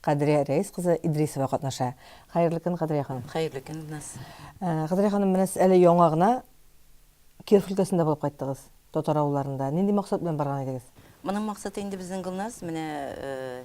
Кадрия Рәис кызы Идрисова катнаша. Хәерле көн, Кадрия ханым. Хәерле көн, Илназ. Кадрия ханым, менә сез әле яңа гына Киров өлкәсендә булып кайттыгыз, татар авылларында. Нинди максат белән барган идегез? Моның максаты инде безнең, Гөлназ, менә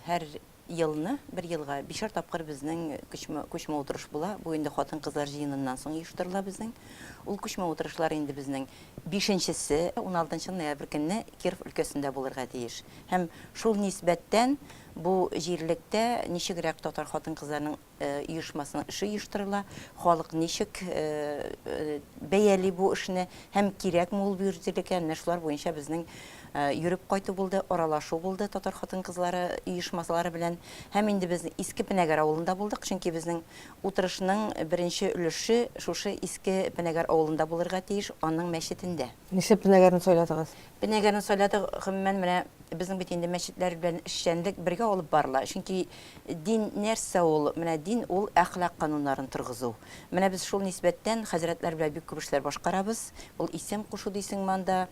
һәр елны, бер елга бишәр тапкыр безнең күчмә, күчмә утырыш була. Бу инде хатын-кызлар җыеныннан соң оештырыла безнең. Ул күчмә утырышлар инде безнең бишенчесе, уналтынчы ноябрь көнне Киров өлкәсендә булырга тиеш. Һәм шул нисбәттән Бу җирлектә ничегрәк татар хатын-кызларының оешмасының эше оештырыла, халык ничек бәяли бу эшне һәм кирәкме ул бу җирлегә, менә шулар буенча безнең йөреп кайту булды, аралашу булды татар хатын-кызлары оешмалары белән. Һәм инде без Иске Пенәгәр авылында булдык, чөнки безнең утырышның беренче өлеше шушы Иске Пенәгәр авылында булырга тиеш, аның мәчетендә. Нишләп Пенәгәрне сайладыгыз? Бенәгәрнең сайлады гомумән менә безнең бит инде мәчетләр белән эшчәнлек бергә алып барыла, чөнки дин нәрсә ул, менә дин ул әхлак кануннарын торгызу. Менә без шул нисбәттән хәзрәтләр белән бик күп эшләр башкарабыз, ул исем кушу дисеңме анда,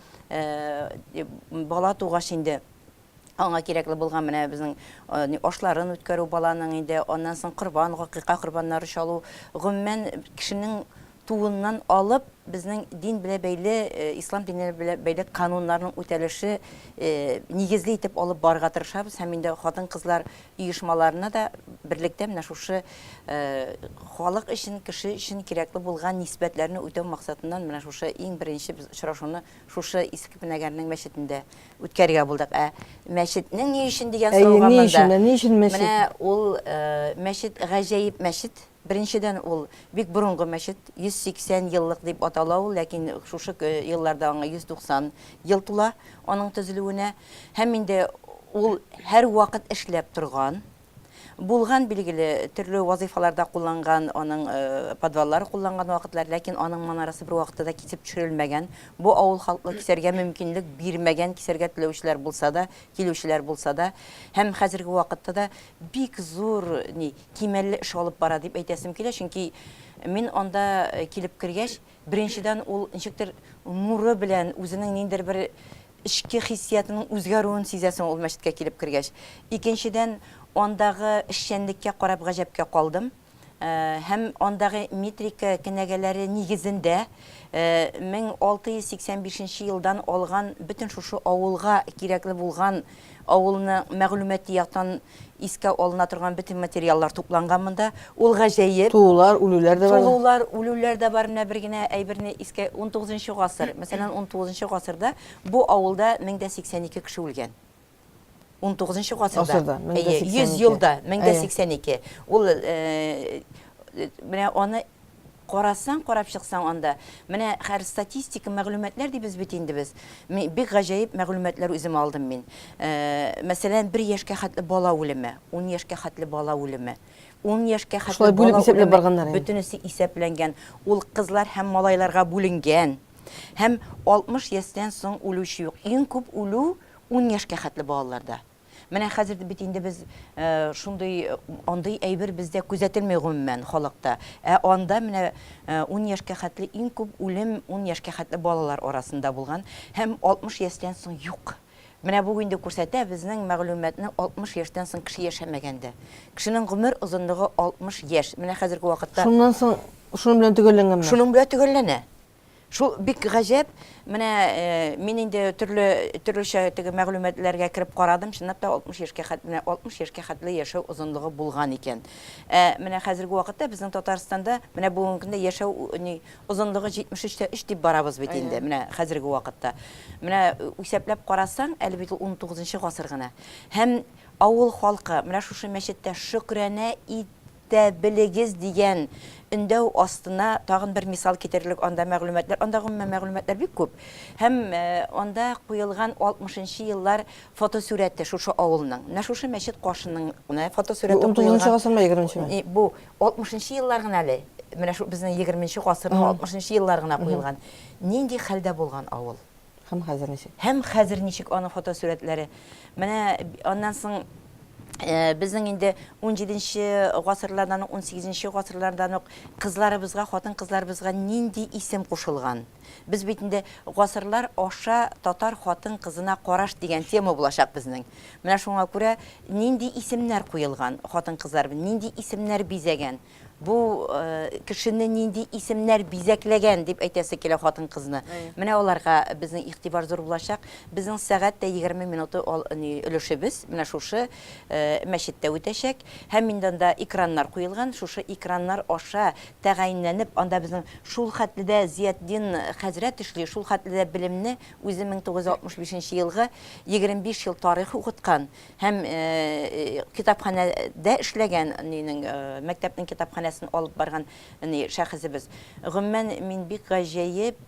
бала тугач инде аңа кирәкле булган менә безнең ашларын үткәрү баланың инде, аннан соң корбан, гакыйка корбаннары чалу, гомумән кешенең тууыннан алып безнең дин белә бәйле, ислам дине белә бәйле кануннарның үтәлеше нигезле итеп алып барырга тырышабыз һәм инде хатын-кызлар оешмаларына да берлектә менә шушы халык өчен, кеше өчен кирәкле булган нисбәтләрне үтәү максатыннан менә шушы иң беренче без очрашуны шушы Иске Пенәгәрнең мәчетендә үткәрергә булдык. Ә мәчетнең ни өчен дигән сорауга монда. Әйе, ни өчен? Ни өчен мәчет? Менә ул мәчет гаҗәеп мәчет. Беренчедән, ул, бик борынгы мәчет, 180 еллык дип атала ул, ләкин шушы елларда аңа 190 ел тула, аның төзелүенә. Һәм инде ул һәрвакыт эшләп торган, булган, билгеле, төрле вазыйфаларда кулланган, аның подваллары кулланган вакытлар, ләкин аның манарасы бервакытта да кисеп төшерелмәгән. Бу авыл халкы кисәргә мөмкинлек бирмәгән, кисәргә теләүчеләр булса да, килүчеләр булса да. Һәм хәзерге вакытта да бик зур, ни, кимәлле эш алып бара дип әйтәсем килә, чөнки мин анда килеп кергәч, беренчедән, ул ничектер нуры белән, үзенең ниндидер бер эчке хиссиятының үзгәрүен сизәсең ул мәчеткә килеп кергәч. Икенчедән, андагы эшчәнлеккә карап гаҗәпкә калдым. Һәм андагы метрика кенәгәләре нигезендә 1685 нче елдан алган бөтен шушы авылга кирәкле булган авылның мәгълүмати яктан Искә алына торган бөтен материаллар тупланган монда. Ул гаҗәеп. Тулулар, үлүләр дә бар. Тулулар, үлүләр дә бар. Менә бер генә әйберне искә, унтугызынчы гасыр. Мәсәлән, унтугызынчы гасырда бу авылда 1082 кеше үлгән. Унтугызынчы гасырда. Әйе, 100 елда 1082. Ул менә аны Карасаң, карап чыксаң анда, менә хәер статистика мәгълүматлар дибез бит инде без. Мин бик гаҗәеп мәгълүматлар үзем алдым мин. Мәсәлән, бер яшькә хәтле бала үлеме, ун яшькә хәтле бала үлеме, ун яшькә хәтле бала үлеме, бөтенесе исәпләнгән. Ул кызлар һәм малайларга бүленгән. Һәм 60 ястән соң үлүче юк. Иң күп үлү ун яшькә хәтле балаларда. Менә хәзер бит инде без шундый, андый әйбер бездә күзәтелми гомумән халыкта. Ә анда менә ун яшькә хәтле иң күп үлем ун яшькә хәтле балалар арасында булган һәм 60 ястән соң юк. Менә бу инде күрсәтә безнең мәгълүматны 60 яшьтән соң кеше яшәмәгән дә. Кешенең гомер озынлыгы 60 яшь. Менә хәзерге вакытта. Шуннан соң шуның белән төгәлләнгәнме? Шуның белән төгәлләнә. Шул бик гаҗәп, менә мин инде төрле төрлечә теге мәгълүматларга кереп карадым, чынлап та 60 яшькә хәтле, менә 60 яшькә хәтле яшәү озынлыгы булган икән. Ә менә хәзерге вакытта безнең Татарстанда менә бүгенге көндә яшәү ни озынлыгы 73 тә 3 дип барабыз бит инде, менә хәзерге вакытта. Менә исәпләп карасаң, әле бит ул 19 нчы гасыр гына. Һәм авыл халкы менә шушы мәчеттә шөкранә ит тә белегез дигән өндәү астына тагын бер мисал китерерлек анда мәгълүматлар, анда гомумән мәгълүматлар бик күп. Һәм анда куелган 60 нчы еллар фотосурәте шушы авылның, менә шушы мәчет каршының гына фотосурәте куелган. Бу 19 нчы гасырмы, 20 нчеме? Бу 60 нчы еллар гына әле, менә шул безнең 20 нче гасырның 60 нчы еллар гына куелган. Нинди хәлдә булган авыл? Һәм хәзер ничек? Һәм хәзер ничек аның фотосурәтләре? Менә аннан соң безнең инде унҗиденче гасырлардан ук, унсигезенче гасырлардан ук кызларыбызга, хатын-кызларыбызга нинди исем кушылган? Без бит инде Гасырлар аша татар хатын-кызына караш дигән тема булачак безнең. Менә шуңа күрә нинди исемнәр куелган хатын-кызларыбыз, нинди исемнәр бизәгән? Бу кешене нинди исемнәр бизәкләгән, дип әйтәсе килә хатын-кызны. Менә аларга безнең игътибар зур булачак. Безнең сәгать тә егерме минуты өлешебез менә шушы мәчеттә үтәчәк. Һәм инде анда экраннар куелган, шушы экраннар аша тәгаенләнеп, анда безнең шулхәтле дә Зиятдин хәзрәт эшли, шулхәтле дә белемне, үзе мең тугыз йөз алтмыш бишенче елгы, егерме биш ел тарих укыткан, Һәм китапханәдә эшләгән, нинең, мәктәпнең китапханәсен алып барган шәхесебез. Гомумән, мин бик гаҗәеп,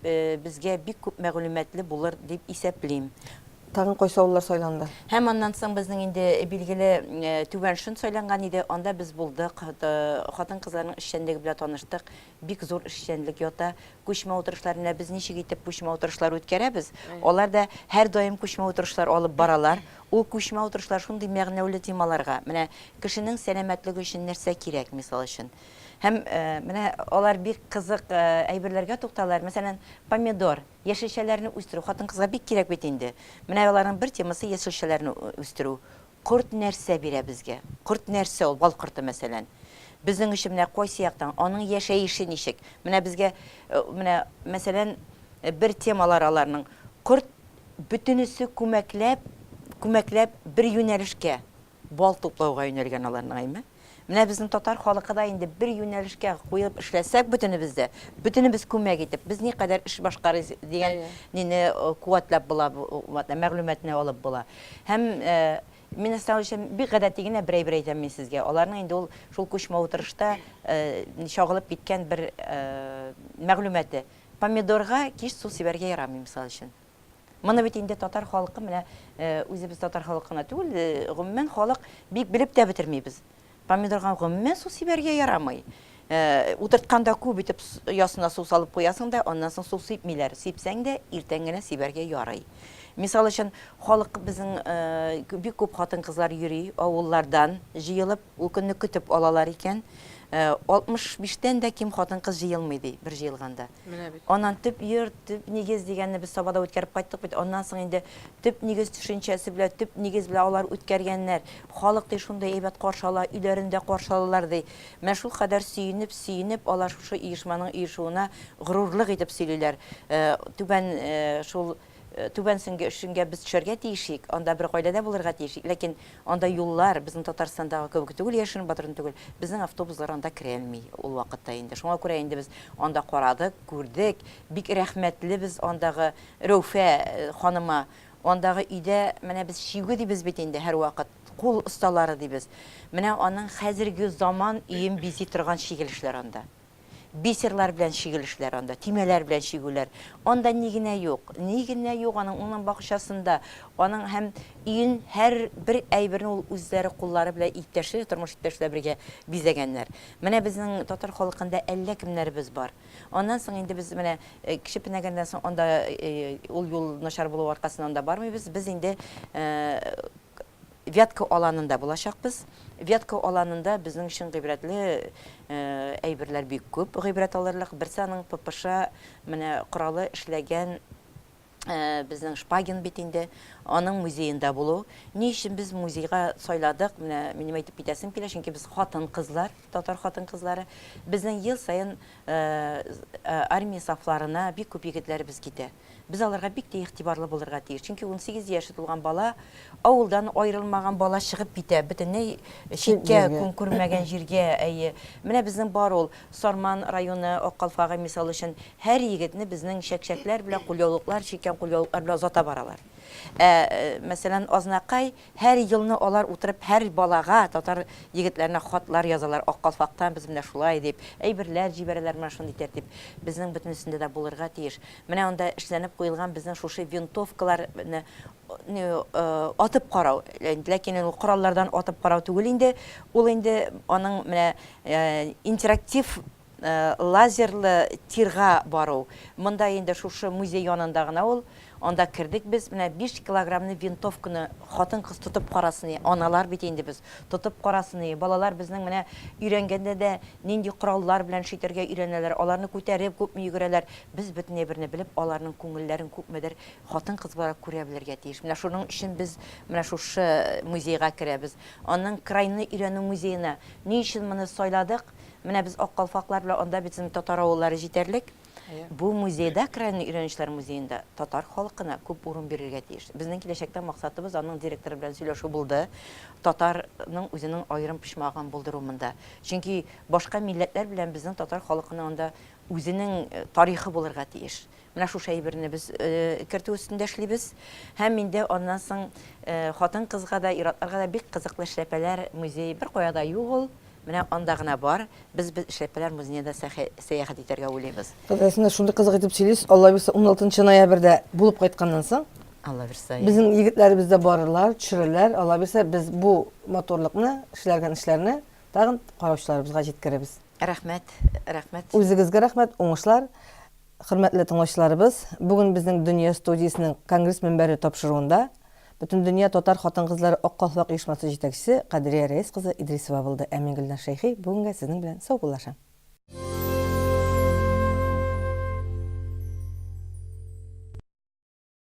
безгә бик күп мәгълүматлы булыр дип исәплим. Тагын кайсы авыллар сайланды? Һәм аннан соң безнең инде билгеле Түбән Шөн сайланган иде, анда без булдык, хатын-кызларның эшчәнлеге белән таныштык, бик зур эшчәнлек ята. Күчмә утырышлар, менә без ничек итеп күчмә утырышлар үткәрәбез, алар да һәрдаим күчмә утырышлар алып баралар. Ул күчмә утырышлар шундый мәгънәүле темаларга, менә кешенең сәламәтлеге өчен нәрсә кирәк, мисал өчен. Һәм менә алар бик кызык әйберләргә тукталалар, мәсәлән, помидор, яшелчәләрне үстерү хатын-кызга бик кирәк бит инде. Менә аларның бер темасы, яшелчәләрне үстерү. Корт нәрсә бирә безгә? Корт нәрсә ул? Бал корты, мәсәлән. Безнең өчен менә кайсы яктан, аның яшәеше ничек? Менә безгә, менә, мәсәлән, бер темалары аларның, корт бөтенесе күмәкләп, күмәкләп бер юнәлешкә, бал туплауга юнәлгән аларның, әйме? Менә безнең татар халыкы да инде бер юнәлешкә куелып эшләсәк бөтенебез дә, бөтенебез күмәк итеп, без никадәр эш башкарыйс дигән нине куәтләп була, мәгълүматны алып була. Һәм Мин Әслән Алиевича бик гадәти генә бер әйбер әйтәм мин сезгә. Аларның инде ул шул күчмә утырышта чагылып киткән бер мәгълүматы. Помидорга кич су сибәргә ярамый, мисал өчен. Моны бит инде татар халкы менә үзебез татар халкы гына түгел, гомумән халык бик белеп тә бетермибез. Помидорга гомумән су сибәргә ярамый. Утыртканда күп итеп ясына су салып куясың да, аннан соң су сипмиләр. Сипсәң дә, иртән генә сибәргә ярый. Мисал өчен, халык безнең бик күп хатын-кызлар йөри, авыллардан җыелып, ул көнне көтеп алалар икән. 65 тән дә ким хатын-кыз җыелмый ди бер җыелганда. Менә бит. Аннан төп йорт, төп нигез дигәнне без Сабада үткәреп кайттык бит. Аннан соң инде төп нигез төшенчәсе белән, төп нигез белән алар үткәргәннәр. Халык, ди, шундый әйбәт каршы ала, өйләрендә каршы алалар, ди. Менә шулкадәр сөенеп, сөенеп алар шушы оешманың оешуына горурлык итеп сөйлиләр. Түбән шул Түбән Шөнгә Шөнгә без төшәргә тиешик, анда бер гаиләдә булырга тиешик, ләкин анда юллар безнең Татарстандагы кебек түгел, яшерен батырын түгел, безнең автобуслар анда керәлми ул вакытта инде. Шуңа күрә инде без анда карадык, күрдек, бик рәхмәтле без андагы Рәүфә ханыма, андагы өйдә менә без чигү дибез бит инде һәрвакыт, кул осталары дибез. Менә аның хәзерге заман өен бизи торган чигелешләр анда. Бисерлар белән чигелешләр анда, төймәләр белән чигүләр. Анда ни генә юк! Ни генә юк аның унын бакчасында! Аның һәм өен һәр бер әйберне ул үзләре куллары белән иптәшләре, тормыш иптәше белән бергә бизәгәннәр. Менә безнең татар халкында әллә кемнәребез бар. Аннан соң инде без менә Кече Пенәгәндән соң анда ул юл начар булу аркасыннан да бармыйбыз. Без инде Вятка аланында булачакбыз. Вятка аланында безнең өчен гыйбрәтле әйберләр бик күп. Гыйбрәт алырлык, берсе аның ППШ менә коралы эшләгән безнең Шпагин бит инде, аның музеенда булу. Ни өчен без музейга сайладык? Менә минем әйтеп китәсем килә, чөнки без хатын-кызлар, татар хатын-кызлары. Безнең ел саен армия сафларына бик күп егетләребез китә. Без аларга бик тә игътибарлы булырга тиеш. Чөнки унсигез яше тулган бала, авылдан аерылмаган бала чыгып китә, бөтенләй читкә, көн күрмәгән җиргә, әйе. Менә безнең бар ул, Сарман районы, Ак Калфагы, мисал өчен, һәр егетне безнең чәкчәкләр белән, кулъяулыклар, чиккән кулъяулыклар белән озата баралар. Ә, мәсәлән, Азнакай, Һәр елны алар утырып һәр балага, татар егетләренә хатлар язалар, Ак калфактан без менә шулай дип, әйберләр җибәрәләр, менә шундый тәртип безнең бөтенесендә дә булырга тиеш. Менә анда эшләнеп куелган безнең шушы винтовкалар ны атып карау, ләкин ул кораллардан атып карау түгел инде, ул инде аның менә интерактив Лазерлы тирга бару. Монда инде шушы музей янында гына ул. Анда кердек без. Менә биш килограммны винтовканы хатын-кыз тотып карасыни. Аналар бит инде без. Тотып карасыни. Балалар безнең менә өйрәнгәндә дә нинди кораллар белән эш итәргә өйрәнәләр. Аларны күтәреп күпме йөгерәләр. Без бөтенләй берне белеп, аларның күңелләрен күпмедер хатын-кыз буларак күрә белергә тиеш. Менә шуның өчен без менә шушы музейга керәбез. Аннан крайны өйрәнү музеена. Ни өчен моны сайладык? Менә без ак калфаклар белән анда бит инде татар авыллары җитәрлек. Бу музейда, Крайние өйрәнешләр музеенда татар халкына күп урын бирергә тиеш. Безнең киләчәктә максатыбыз, аның директоры белән сөйләшү булды, татарның үзенең аерым почмагын булдыру монда. Чөнки башка милләтләр белән безнең татар халкының анда үзенең тарихы булырга тиеш. Менә шушы әйберне без кертү өстендә эшлибез. Һәм инде аннан соң хатын-кызга да, ир-атларга да бик кызыклы эшләпәләр музей, беркая да юк ул, Менә анда гына бар, без без Эшләпәләр музеена да сәхә сәяхәт итәргә уйлыйбыз. Кызык, син дә шундый кызык итеп сөйлисең, Алла бирса, уналтынчы ноябрьдә булып кайтканнан соң, Алла бирса, я. безнең егетләребез дә барырлар, төшерерләр, Алла бирса, без бу матурлыкны, эшләргән эшләрне тагын караучыларыбызга җиткерербез. Рәхмәт, рәхмәт. Үзегезгә рәхмәт, уңышлар. Хөрмәтле тыңлаучыларыбыз, бүген безнең Дөнья студиясенең конгресс мөнбәре тапшыруында Бөтендөнья татар хатын-кызлары Ак калфак оешмасы җитәкчесе Кадрия Рәис кызы Идрисова булды, ә мин Гөлназ Шәйхи бүгенгә сезнең белән саубуллашам.